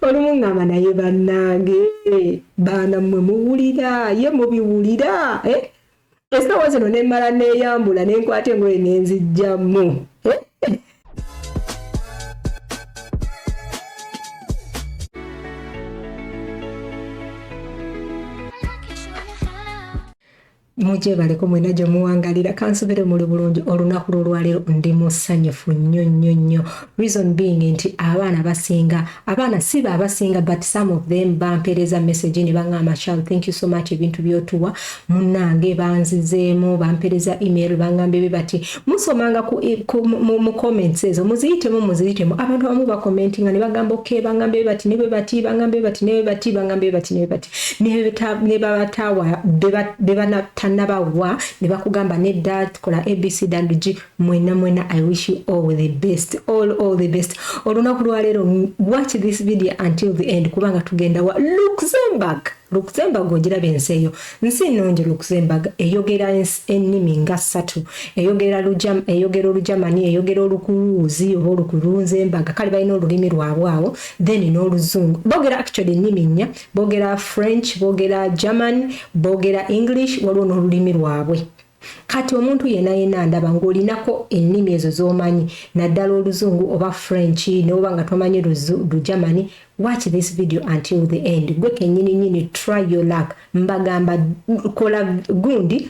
olumu ngamba naye bannange baana mmwe muwulira ye mubiwulira eh? esawa zino nemmala neeyambula nenkwata engoye nenzijjamu eh? mugyebaleko mwena gye muwangalira kansubire muli bulungi olunaku lwolwaleero ndi musanyufu nnyo nnyo nnyo reason being nti abaana basinga abaana si ba abasinga but some of them bampeereza message ne baŋŋamba shal thank you so much ebintu byotuwa munnange banzizeemu bampeereza email baŋŋambye be bati musomanga eh, mu comments ezo muziyitemu muziyitemu abantu abamu bakomentinga ne bagamba oke baŋŋambye be bati ne bwe bati baŋŋambye bati ne bwe bati baŋŋambye bati ne bwe bati nebabatawa bebatanabawa nebakugamba nedda kola abc dng mwena mwena i wish you all the best all all the best olunaku lwaleero watch this video until the end kubanga tugenda wa luxemburg luxemburg ogiraba ensi eyo nsi nungi luxemburg eyogera ennimi nga ssatu eyogera olujamani eyogera olukuwuuzi oba olukulunzembaga kale balina olulimi lwabwe awo then n'oluzungu boogera actually ennimi nnya boogera french boogera german boogera english waliwo n'olulimi lwabwe kati omuntu yena yena ndaba ng'olinako ennimi ezo z'omanyi naddala oluzungu oba french neoba nga tomanyi lugermany watch this video until the end gwe kenyini nyini try your luck mbagamba kola gundi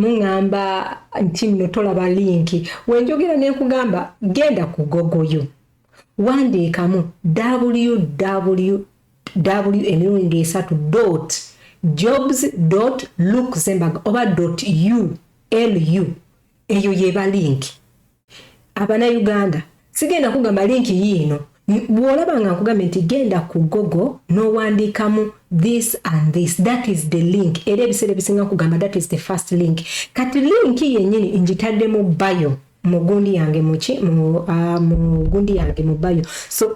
muŋŋamba nti nno tolaba linki wenjogera ne nkugamba genda ku gogoyo wandiikamu www w emirundi esatu dot jobs dot luxemburg oba dot u lu eyo yeba linki abana uganda sigenda kugamba linki yiino bwolaba nga nkugambye nti genda ku gogo n'owandiikamu this and this that is the link era ebiseera ebisinga kugamba that is the first link kati linki yennyini ngitadde mu bayo mu gundi yange muki mu ah, gundi yange mu bayo so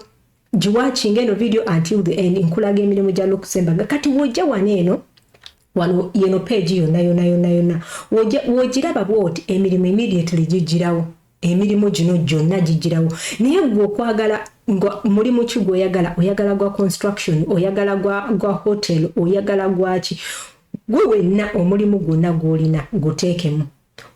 giwakinga eno video until the end nkulaga emirimu gya lukusembaga kati wojja wana eno Wano yeno page yona yona yona yona wojiraba bwoti emirimu immediately jijirawo emirimu gino gyonna gijirawo naye gwe okwagala nga mulimu ki gwoyagala oyagala gwa construction oyagala gwa gwa hotel oyagala gwaki gwe wenna omulimu gwonna gwolina guteekemu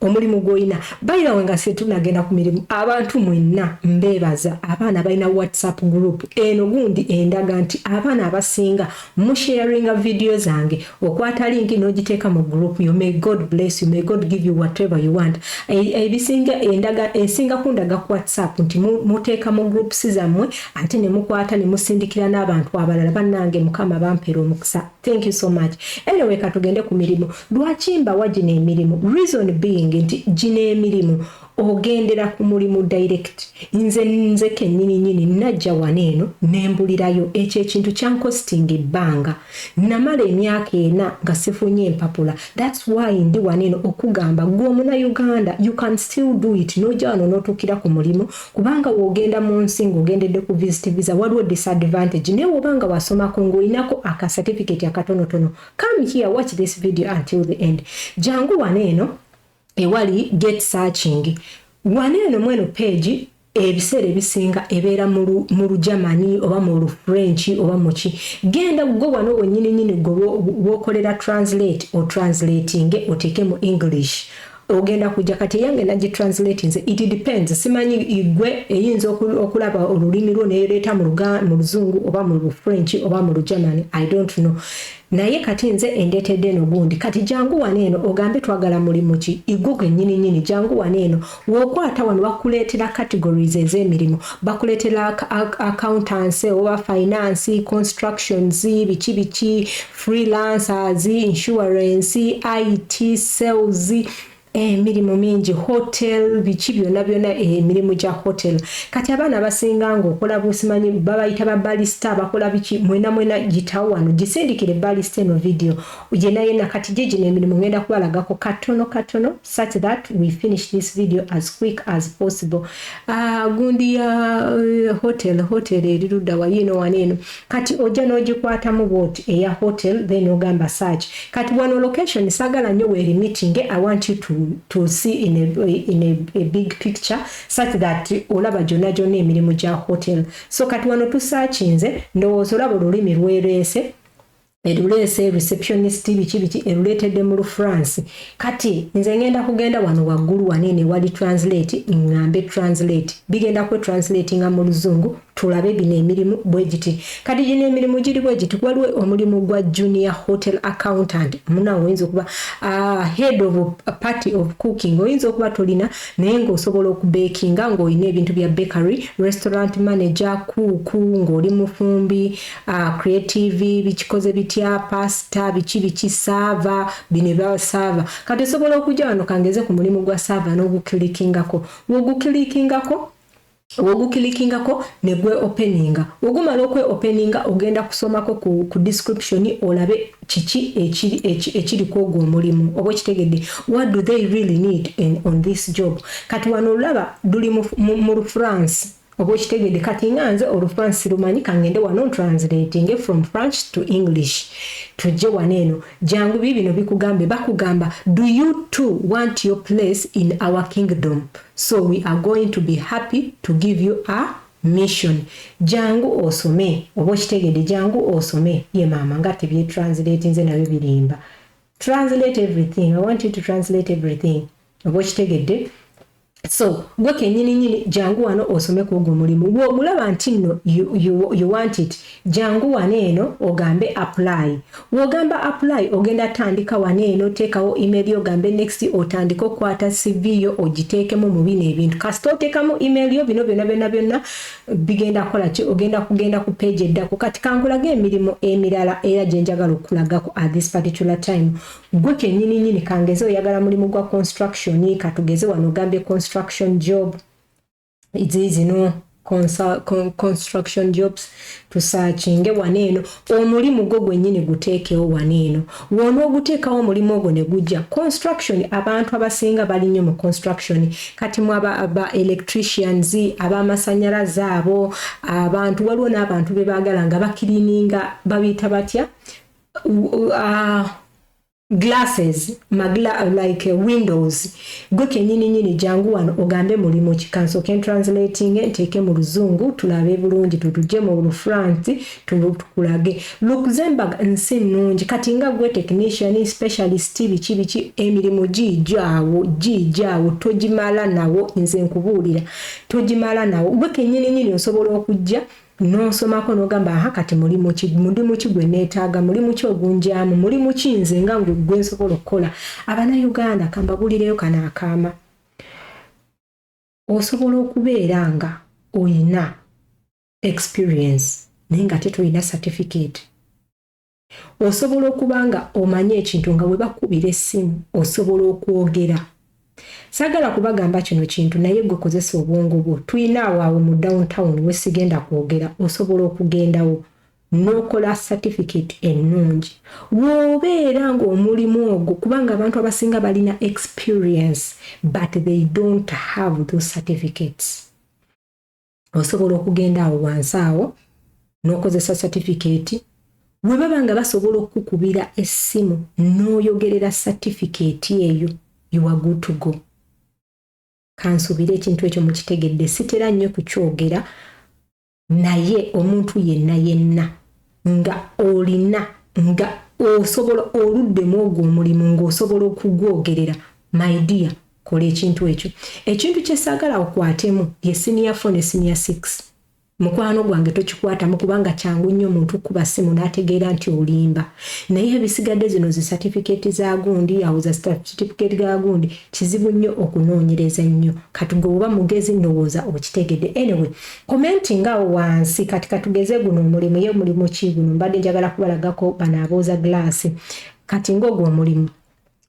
omulimu gwolina bayilawe nga setunagenda ku mirimu abantu mwenna mbeebaza abaana balina whatsapp group eno gundi endaga nti abaana abasinga musharinga vidiyo zange okwata linki n'ogiteeka mu group yo may god bless you may god give you whatever you want ebisinga endaga esinga kundaga ku whatsapp nti muteeka mu groups zammwe ate ne mukwata ne musindikira n'abantu abalala bannange mukama bampeera omukisa Thank you so much. Anyway, katugende ku mirimu. Lwaki mbawa gino emirimu? Reason being nti gino emirimu ogendera ku mulimu direct. Nze nze kennyini nyini najja wano eno ne mbulirayo ekyo ekintu kyankostinga ebbanga. Namala emyaka ena nga sifunye mpapula. That's why ndi wano eno okugamba gwe omunayuganda you can still do it n'ojja wano n'otuukira ku mulimu kubanga wogenda mu nsi ng'ogendedde ku visit visa waliwo disadvantage naye woba nga wasomako ng'olinako aka certificate akatonotono come here watch this video until the end jangu wano eno ewali get searching wano eno mweno page ebiseera ebisinga ebeera mu lugermany oba mu lufrench oba muki genda gwe wano wenyini nyini gwe wokolera translate o translatinge oteeke mu english ogenda kujja kati eyange nagitranslatinze it depends simanyi igwe eyinza okulaba olulimi lwo neyoleeta mu luzungu oba mu lufrench oba mu lugermany i don't know naye kati nze endetedde eno gundi kati jangu wano eno ogambe twagala mulimu ki igwo gwenyini nyini jangu wano eno wokwata wano bakuleetera categories ez'emirimu bakuleetera accountancy oba finance constructions biki biki freelancers, insurance, IT, sales emirimu eh, mingi hotel biki byona byona eh, emirimu eh, gya hotel kati abaana abasinga nga okola busimanyi babayita ba balista abakola biki mwena mwena gitawo wano gisindikire balista eno video yena yena kati gyegino emirimu ngenda kubalagako katono katono such that we finish this video as quick as possible uh, gundi ya uh, hotel hotel erirudda wayino wano eno Kati ojja nogikwatamu bwoti eya hotel then ogamba search kati wano location sagala nyo weri meeting I want you to, to see in a, in a, a big picture such that olaba jona jona emirimu ja hotel so kati wano tusakinze ndowooza olaba olulimi lwereese eruleese receptionist biki biki eruleetedde mu lufrance kati nze ngenda kugenda wano waggulu wano eno ewali translate ngambe translate bigenda kwe translate nga mu luzungu tulabe bino emirimu bwegiti kati gino emirimu giri bwegiti waliwo omulimu gwa junior hotel accountant munawe oyinza okuba uh, head of a party of cooking oyinza okuba tolina naye ngaosobola okubekinga ngaolina ebintu bya bakery restaurant manager kuuku ngaoli mufumbi uh, creative bikikoze bitya pasta biki biki saava bino ebya saava kati osobola okujja wano kangeze ku mulimu gwa saava n'ogukilikingako wogukilikingako wogukilikingako ne gwe openinga wogumala okwe openinga ogenda kusomako ku, ku description olabe kiki ekiri kwogwo omulimu oba okitegedde what do they really need in, on this job kati wano olaba duli mu, mu, mu france oba okitegedde kati nga nze olufransi lumanyi kangende wano ntranslatinge from french to english tujje wano eno jangu bibino bikugambe bakugamba do you too want your place in our kingdom so we are going to be happy to give you a mission jangu osome oba okitegedde jangu osome ye maama nga tebyetranslatinze nabyo birimba translate everything i want you to translate everything oba okitegedde so gwe kenyini nyini jangu wano osome ku ogwo mulimu gwogulaba nti nno you, you, you want it jangu wano eno ogambe apply wogamba apply ogenda tandika wano eno teekawo email yo ogambe next otandike okukwata cv yo ogiteekemu mu bino ebintu kasita oteekamu email yo bino byona byona byonna bigenda kukola ki ogenda kugenda ku page eddako kati kankulage emirimu emirala era gye njagala okulagako at this particular time gwe kenyini nyini kangeze oyagala mulimu gwa construction katugeze wano ogambye construction job zizino construction jobs tusakinge wano eno Omulimu gwo gwenyini guteekewo wano eno wonooguteekawo omulimu ogwo ne gujja. Construction abantu abasinga bali nnyo mu construction kati mwe aba, aba electricians, ab'amasannyalaze abo, abantu waliwo n'abantu be baagala nga bakiriininga babiyita batya uh, glasses magla like windows gwe kenyini nyini jangu wano ogambe mulimu ki kanso ken translating nteeke mu luzungu tulabe bulungi tutuje mu lufransi tukulage luxembourg nsi nnungi kati nga gwe technician specialist biki biki emirimu giijaawo giijaawo togimala nawo nze nkubuulira togimala nawo gwe kenyini nyini osobola okujja N'onsomako n'ogamba aha kati mulimu ki, mulimu ki gwe neetaaga, mulimu ki ogunjaamu, mulimu ki nze nga ngwe gwe nsobola okukola. Abanayuganda ka mbabuulireyo kano akaama. Osobola okubeera nga oyina experience naye nga ate toyina certificate. Osobola okuba nga omanyi ekintu nga webakubira essimu osobola okwogera. Sagala kubagamba kino kintu naye gwe kozesa obwongo bwo tuyina awo awo mu down town wesigenda kwogera osobola okugendawo nokola certificate ennungi wobeera nga omulimu ogwo kubanga abantu abasinga balina experience but they don't have those certificates. osobola okugenda awo wansi awo n'okozesa satifikeeti bwe baba nga basobola okukukubira essimu n'oyogerera satifikeeti eyo iwagutugo kansuubire ekintu ekyo mukitegedde sitera nnyo kukyogera naye omuntu yenna yenna nga olina nga osobola oluddemu ogwo omulimu ng'osobola okugwogerera maidiya kola ekintu ekyo ekintu kyesagala okwatemu ye senior four ne senior six mukwano gwange tokikwatamu kubanga kyangu nnyo omuntu kuba simu n'ategeera nti olimba naye ebisigadde zino zi satifikeeti za gundi awo za satifikeeti ga gundi kizibu nnyo okunoonyereza nnyo kati gwe oba mugezi ndowooza okitegedde anyway komenti ngaawo wansi kati katugeze guno omulimu ye mulimu ki guno mbadde njagala kubalagako bano abooza gulaasi kati ng'ogwo omulimu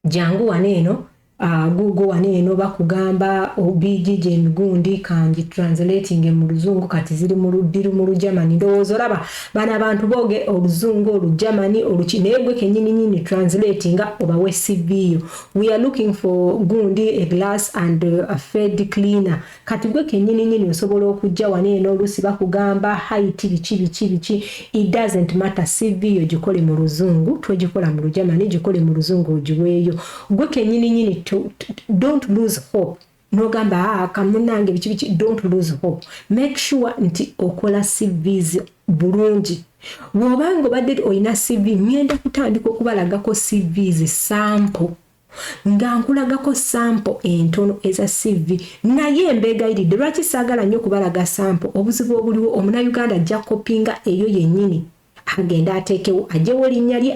jangu wano eno uh, gugo wano eno bakugamba obijiji oh, emigundi kangi translating mu luzungu kati ziri mu luddiru mu lugermany ndowooza olaba bano abantu booge oluzungu olugermany oluki naye gwe kenyininyini translating obawe cv yo we are looking for gundi a glass and uh, a fed cleaner Kati gwe kenyini nyini osobola okujja wano eno olusi bakugamba height biki biki biki it doesn't matter CV yo gikole mu luzungu twegikola mu lujamani gikole mu luzungu ogiweeyo gwe kenyini nyini to, to, don't lose hope nogamba aa ah, kamunange biki biki don't lose hope make sure nti okola CVs bulungi wobanga obadde olina CV ngenda kutandika okubalagako CVs sample nga nkulagako sampo entono eza CV naye mbeegayiridde lwaki saagala nnyo kubalaga sampo obuzibu obuliwo omunayuganda ajja kopinga eyo yennyini agende ateekewo ajewo linnya lye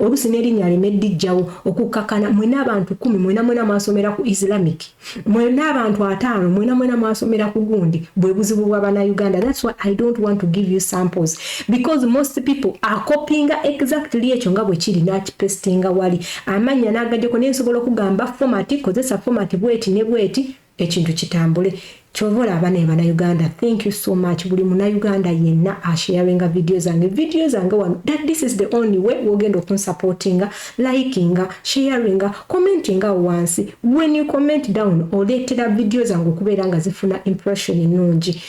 oluusi n'erinnya aleme dijjawo okukkakana mwena abantu kumi mwena mwena mwasomera ku islamic mwena abantu ataano mwena mwena mwasomera ku gundi bwe buzibu bwa banauganda thats why i don't want to give you samples because most people acopinga exactly ekyo nga bwe kiri nakipestinga wali amannya n'agajeko naye nsobola okugamba format kozesa format bweti ne bweti ekintu kitambule kyova olaba naye banauganda thank you so much buli munauganda yenna asharinga vidiyo zange vidiyo zange wano that this is the only way wogenda okunsupportinga likinga sharinga commentinga wansi when you comment down oleetera vidiyo zange okubeera nga zifuna impression ennungi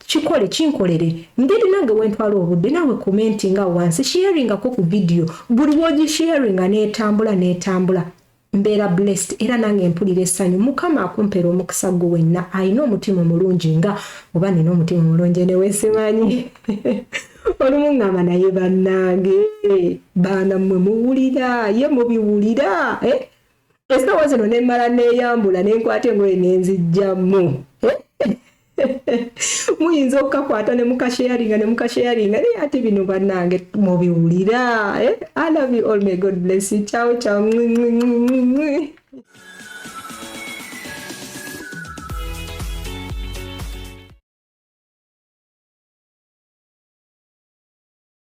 kikole kinkolere ngeri nange wentwala obudde nawe commentinga wansi sharingako ku vidiyo buli wogisharinga netambula netambula Mbeera blessed era nange mpulira essanyu mukama akumpera omukisa gwo wenna alina omutima omulungi nga oba nina omutima omulungi enewesimanyi olumu ngamba naye bannange baana mmwe muwulira ye mubiwulira eh? esawa zino nemmala neyambula nenkwata engoye nenzijjamu eh? muyinza okukakwata ne mukasheyaringa ne mukasheyaringa naye ate bino banange mubiwulira eh? i love you all may god bless you ciao ciao